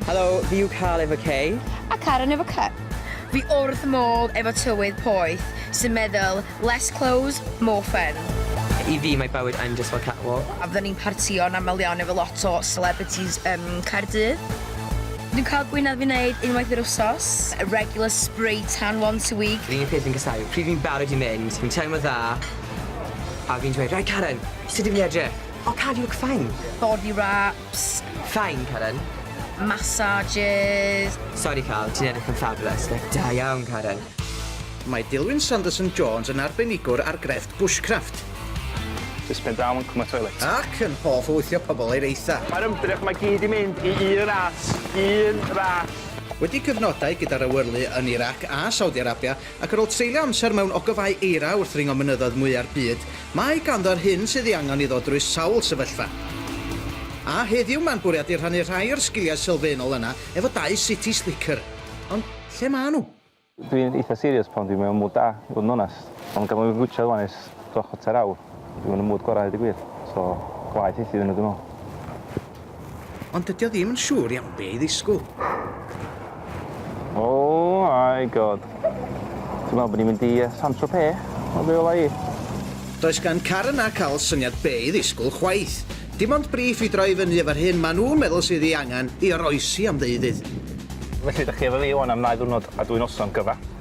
Helo, fi yw Carl efo K. A Karen efo K. Fi wrth modd efo tywydd poeth sy'n meddwl less clothes, more fun. I fi mae bywyd yn jyst fel catwalk. A fydden ni'n partio'n aml iawn efo lot o celebrities ym Caerdydd. Dwi'n cael gwinadd fi'n neud unwaith yr wsos. A regular spray tan once a week. Yr unig peth fi'n casau yw pryd fi'n barod i mynd, fi'n teimlo dda a fi'n dweud, 'Right Karen, sut dw i'n edrych? 'Oh Karen, you look fine'. Body ra. Psst, fine Karen. Massages. Sori Carl, ti'n edrych yn fabulous, like da iawn Karen. Mae Dilwyn Sanderson Jones yn arbenigwr ar grefft bushcraft. Jyst pen draw yn cwm y toilet. Ac yn hoff o wythio pobl i'r eitha. Mae'r ymdrech mae gyd i mynd i un ras, un ras. Wedi cyfnodau gyda'r awyrlu yn Irac a Saudi Arabia, Ac ar ôl treulio amser mewn ogofâu eira wrth ringo mynyddoedd mwya'r byd, mae ganddo yr hyn sydd ei angen iddo drwy sawl sefyllfa. A heddiw mae'n bwriadu rhannu rhai o'r sgiliau sylfaenol yna efo dau city slicker. Ond lle maen nhw? Dwi'n eitha serious pan dwi mewn mood da, i fod yn onest. Ond gan fod fi'n gwitsiad ŵan ers dros chwarter awr, Dwi ddim yn y mood gorau i ddeud y gwir, so gwaeth hithau iddyn nhw dwi'n meddwl. Ond dydy o ddim yn siŵr iawn be i ddisgwyl. Oh my God. Ti'n meddwl bod ni'n mynd i Saint-Tropez? Wel be wela i? Does gan Karen a Carl syniad be i ddisgwyl chwaith. Dim ond briff i droi fyny efo'r hyn maen nhw'n meddwl sydd ei angen i oroesi am ddeuddydd. Felly, dych chi efo fi ŵan am ddau ddiwrnod a dwy noson gyfa.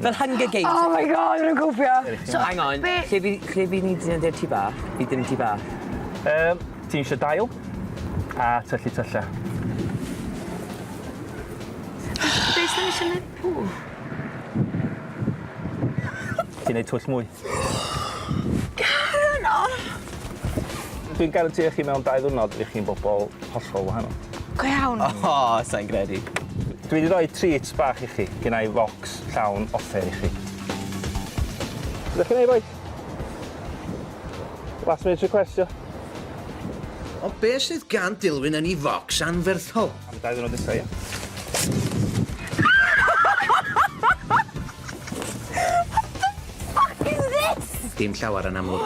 Fel Hunger Games. Oh my god, fi'n cwfio. So, hang on, be... lle fi, lle fi ni dyn yn tŷ bach? Fi dyn yn tŷ bach. Um, ti'n eisiau dail a tyllu tyllau. Be sy'n eisiau gwneud pw? Ti'n gwneud twll mwy? Garen, o! Dwi'n garantio chi mewn dau ddwrnod i chi'n bobl hollol wahanol. Go iawn. O, oh, sa'n gredu. Dwi wedi rhoi treats bach i chi, gen i fo. bocs llawn offer i chi. Ydych chi'n ei bois? Last minute request, io? O be sydd gan Dilwyn yn ei focs anferthol? Am dau ddwrnod nesau, ia? Dim llawer yn amlwg.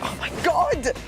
Oh my god!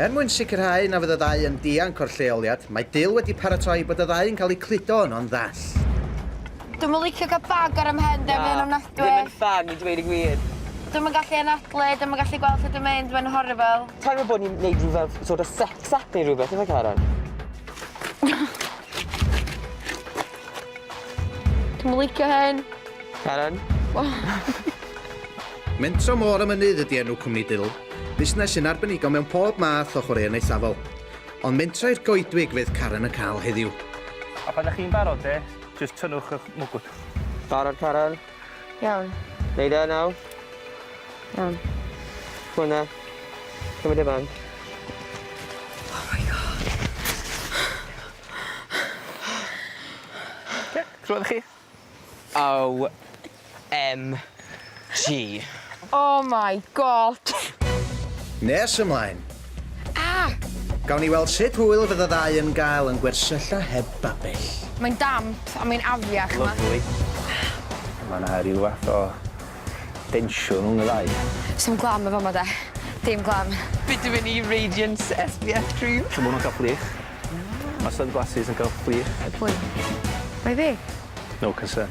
Er mwyn sicrhau na fydd y ddau yn dianc o'r lleoliad, mae Dale wedi paratoi bod y ddau yn cael eu cludo yno'n ddall. Dwi'm yn licio cael bag ar 'y mhen 'de, mae o'n ofnadwy. Na, ddim yn ffan i dweud y gwir. Dwi'm yn gallu anadlu, dwi'm yn gallu gweld lle dwi'n mynd, mae'n horrible. Teimlo fel bod ni'n neud rhyw fath sort of sex act neu rhywbeth, ife Karen? Dwi'm yn licio hyn. Karen? Mentro Môr y Mynydd ydy enw cwmni Dill, busnes sy'n arbenigo mewn pob math o chwaraeon eithafol. Ond mentro i'r goedwig fydd Karen yn cael heddiw. A phan 'da chi'n barod de, jyst tynnwch 'ych mwgwd. Barod Karen? Iawn. Neud e nawr? Iawn. Hwn e. Cymryd e mewn. Oh my God. Oce, clywed chi? OMG. Oh my God! Nes ymlaen! Ah! Gawn ni weld sut hwyl fydd y ddau yn gael yn gwersylla heb babell. Mae'n damp a mae'n afiach yma. Lyfli. Mae 'na ryw fath o densiwn rhwng y ddau. Sdim glam yn fama 'de. Dim glam. Bitumen E Radiance SPF cream. Siŵr bo' nw'n ca'l prych. Mae sunglasses yn gael chwith. Good point. Mae fi. No concern.